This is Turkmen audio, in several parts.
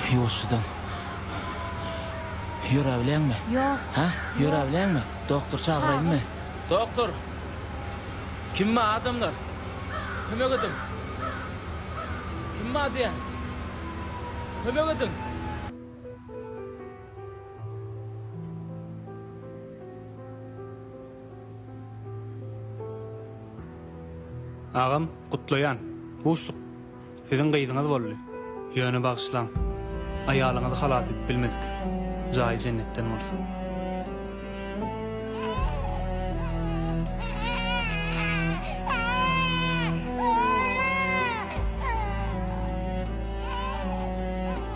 Ýuwaşjadan. Ýöräbileňmi? Ýok. Hä? Ýöräbileňmi? Doktor çagyraýynmy? Doktor! Kim bar, adamlar? Kömek ediň! Kim bar diýýän? Kömek ediň! Agam gutlaýan. Buşluk. Siziň gyzyňyz boldy. Ýöne bagyşlaň. Aýalyňyzy halas edip bilmedik. Jaýy jennetden bolsun.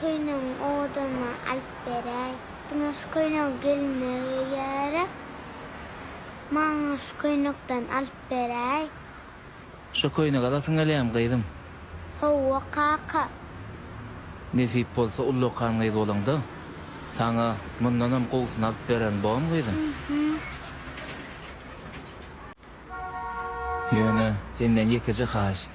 Köýnegiň owadanlygyny alyp beräý. Diňe şu köýnegi gelinler geýýärä. Maňa şu köýnekden alyp beräý. Şu köýnegi alasyň gelýämi, gyzym? Hawa, kaka. Nesip bolsa uly okan gyz bolaňda, saňa mundanam gowusyny alyp bererin, bowamy, gyzym? Ýöne senden ýekeje haýyşt.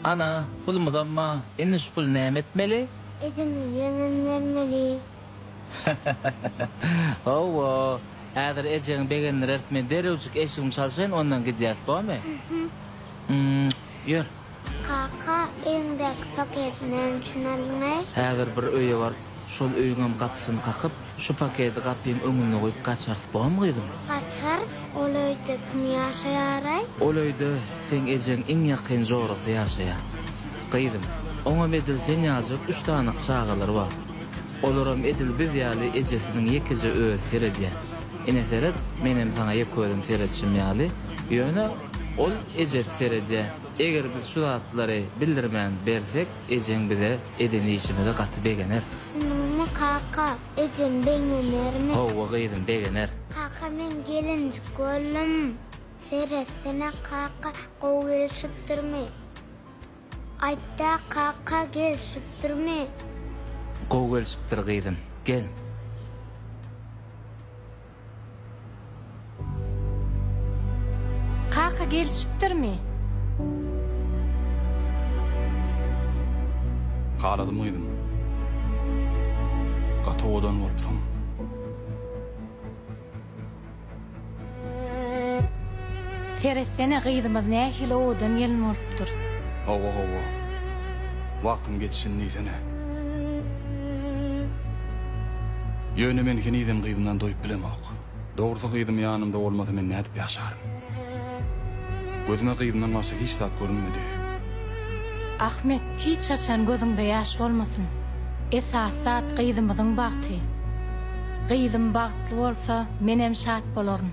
Ana, pulumyz amma, indi şu puly näme etmeli? Ejeme ýönem bermeli. Hawa, häzir ejeňi begendireris, men derrewjik eşigimi çalşaýyn, ondan gidýäris, bormy? Ýör. Kaka, eliňdäki paketi näme üçin aldyň-aý? Häzir bir öýe baryp, şol öýüňem gapysyny kakyp, Şu paketi gapyň öňünde goýup gaçarys bormy gyzym? Gaçarys, ol öýde kim ýaşaýaraý? Ol öýde seň ejeň iň ýakyn jorasy ýaşaýar. Gyzym, oňam edil sen ýaljak üç sanyk çagalary bar. Olaram edil biz ýaly ejesiniň ýekeje özi seredýär. Ine seret, menem saňa ýeközüm seredişim ýaly, ýöne ol ejesi seredýär. Eger biz şu zatlary bildirmän bersek, Ejeň bize eden işimize gaty begener. Şunuňmy kaka, ejem begenermi? Howwa gyzym, begener. Kaka men gelinjik boldum. Seretsene kaka, gowy gelişipdirmi? Aýtda kaka, gelişipdirmi? Gowy gelişipdir gyzym, gel. Kaka gelişipdirmi? Haladym gyzym. Gaty owadan bolupsyň. Seretsene gyzymyz nähili owadan gelin bolupdyr. Hawa hawa. Wagtyň geçişini diýsene. Ýöne men henizem gyzymdan doýup bilemok. Dogrusy gyzym ýanymda bolmasa men nädip ýaşaryn. Gözüme gyzymdan başga hiç zat görünmedi. Ahmet hiç haçan gözüňde ýaş bolmasyn. Esasy zat gyzymyzyň bagty. Gyzym bagtly bolsa menem şat bolaryn.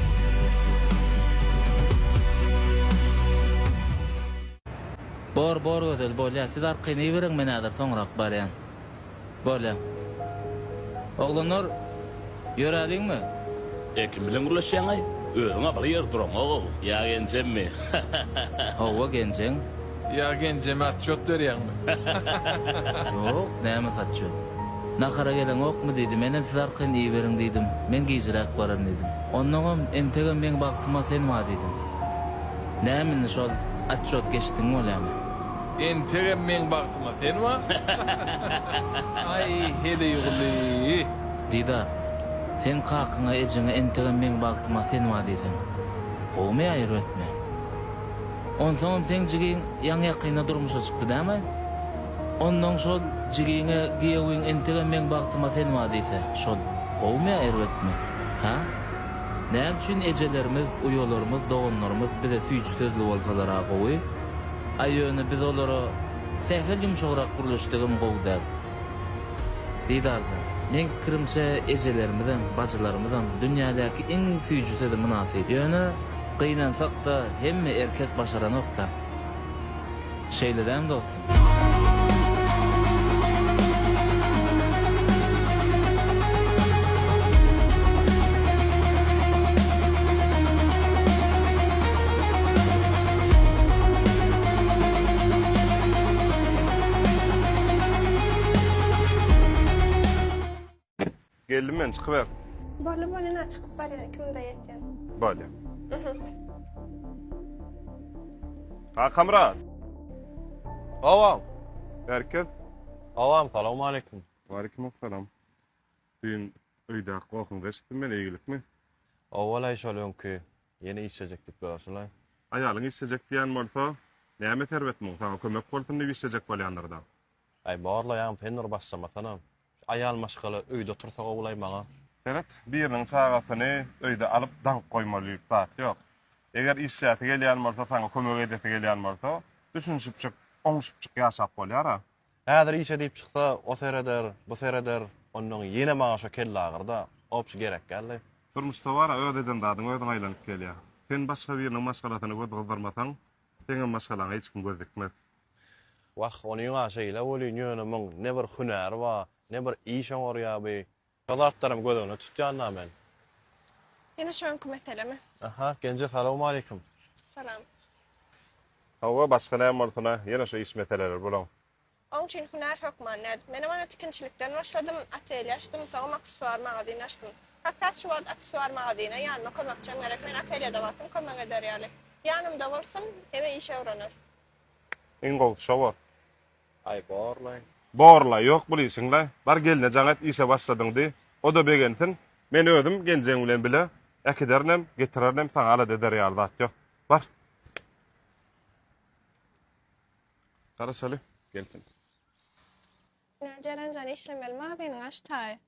Bor bor gözel bolýa siz arkaýyn iberiň men häzir soňrak barýan bolýan oglanlar ýöräliňmi. E kim bilen gürleşýäňaý? Özüň abaly ýerde duraňow. Ýa genjemmi? Hawa genjeň. Ýa genjeme atçot berýäňmi? Ýok, näme satçot. Nahara geleňokmy diýdi. Menem siz arkaýyn iýiberiň diýdim. Men gijräk baran diýdim. Onnoňam entegem meň bagtyma sen bar diýdim. Näme indi şol atçot geçdigiň bolýamy? Entegem meň bagtyma sen bar? Aý, heleýguly! Diýda, sen kakyňa, ejeňe entegem meň bagtyma sen bar diýseň. Gowumy ýa erbetmi? Onsoňam seň jigiň ýaňy-ýakynda durmuşa çykdy dämi? Onnoň şol jigiňe giýewiň entegem meň bagtyma sen bar diýse, şol gowumy ýa erbetmi? Hä? Näme üçin ejelerimiz, uýalarymyz, doganlarymyz bize süýji sözli bolsalar-a gowy? Aý ýöne biz olara sähel ýumşagrak gürleşsegem gowy däl. Didarjan, meň pikirimçe ejelerimiziň, bajylarymyzyň dünýädäki iň süýji sözi mynasyp. Ýöne, gynansak-da, hemme erkek başaranok-da. Şeýle dämi, dostum? Geldim men çykyber. Bolly bolly na çykyp barýan ikimize ýetýän. Bolly. Kakamyrat. Awam. Berkez. Awam salawmaleýkim. Waleýkim assalam. Düýn öýdäki gohuňyzy eşitdim men eýgilikmi? Owalaý şol öňki Ýene işlejek diýip durarsylaý. Aýalyň işlejek diýen bolsa, näme Serwet muň, saňa kömek bolsun diýip işlejek bolýandyrda. Aý, barlaýam, sen bir başlamasana. Şu aýal maşgala öýde otursa gowulaý maňa. Serwet, biriniň çagasyny öýde alyp daňyp goýmalyk zat ýok. Eger işläsi gelýän bolsa, saňa kömek edesi gelýän bolsa, düşünişipjik, oňuşypjyk ýaşap bolýar-a. Häzir işe diýip çyksa, o sereder, bu sereder, onnoň ýene maňa şo kellagyr-da, obşi gerek däldi. Durmuşda bar-a, öz eden zadyň özüňe aýlanyp gelýär. Sen başga biriniň maşgalasyna göz gyzdyrmasaň, seňem maşgalaňa hiç kim göz dikmez. Wah, onyň-a şeýle welin ýöne muň ne bir hünäri bar, ne bir iş oňarýar bi. Şo zatlaram göz öňüne tutýan da men. Ýene şu öňki meselemi. Aha, Genje salawmaleýkim. Salam. Hawa, başga näme bolsun-a, ýene şu iş meseleleri bulaň. Oň üçin hünär hökman däl. Menem ony tikinçilikden başladym, atelýe açdym, soňam aksessuar magazin açdym. Hat has şu wagt aksessuar magazine ýanyma kömekçem gerek, men atelýede bolsam kömek eder ýaly. Ýanymda bolsun, ebe işe öwrener. Iň gowusy şo bor. Aý borlaý. Borlaý ýok bul işiňle. Bar gelne jaň et işe başladyň diý. O-da begensin. Men özüm geljegiň bilen bile äkiderinem, getirerinem saňa alada eder ýaly zat ýok. Bar. Garaşaly, gelsin. Ine Jeren jan işlemeli magzynyňy açdaý.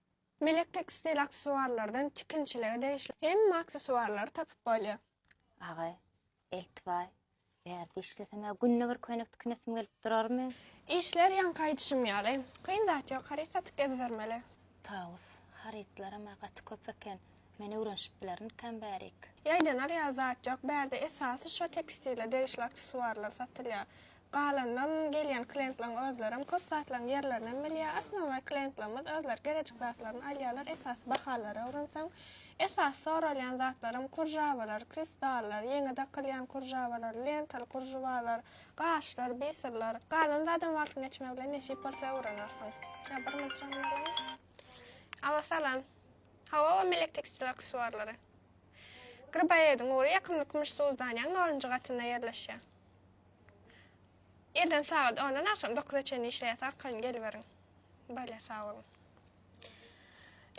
Melek tekstil aksesuarlardan tikinçilige degişli hemme aksesuarlary tapyp bolýar. Agay. Eltbaý, Bärde işlesem-ä günde bir köýnek tikinesim gelip durarmy? Işler ýaňky aýdyşym ýaly. Kyn zat ýok, haryt satyp gezibermeli. Tawus, Harytlaram-a gaty köp eken. Men öwrenişip bilermikäm bärik? Ýaýdanar ýaly zat ýok. Bärde esasy şo tekstile degişli aksessuarlar satylýar. Galanynam gelýän klientleriň özlerem köp zatlaryň ýerlerinem bilýär. Osnownoý klientlerimiz özleri gerejik zatlaryny alýarlar. Esasy bahalary öwrenseň, esasy soralýan zatlaram kurjawalar, kristallar, ýeňe dakylýan kurjawalar, lentaly kurjwalar, gaşlar, biserler. Galan zadam wagtyň geçmegi bilen nesip bolsa öwrenersiň. Ýa bir munça ýa munça. Alo salam. Hawa we melek tekstil aksesuarlary. Gribaýediň ury ýakymly kümüş suzdaniýanyň nolunjy gatynda ýerleşýär. Irden sagat ondan agşam dokuza çenli işleýäs arkaýyn geliberiň. Bolýa sag boluň.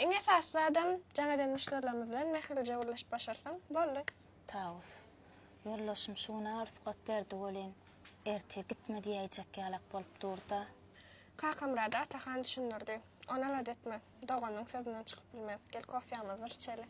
Iň esasy zadam jaň eden muşderilerimiz bilen mähirlije gürleşip başarsaň boldy. Taus. Ýoldaşym şu gün agyr sukat berdi welin, erte gitme diýäýjek ýalak bolup durda. Kakamyrady Atahan düşündirdi. Ony alada etme. Doganyň sözünden çykyp bilmez. Gel kofýamyzy yçeli.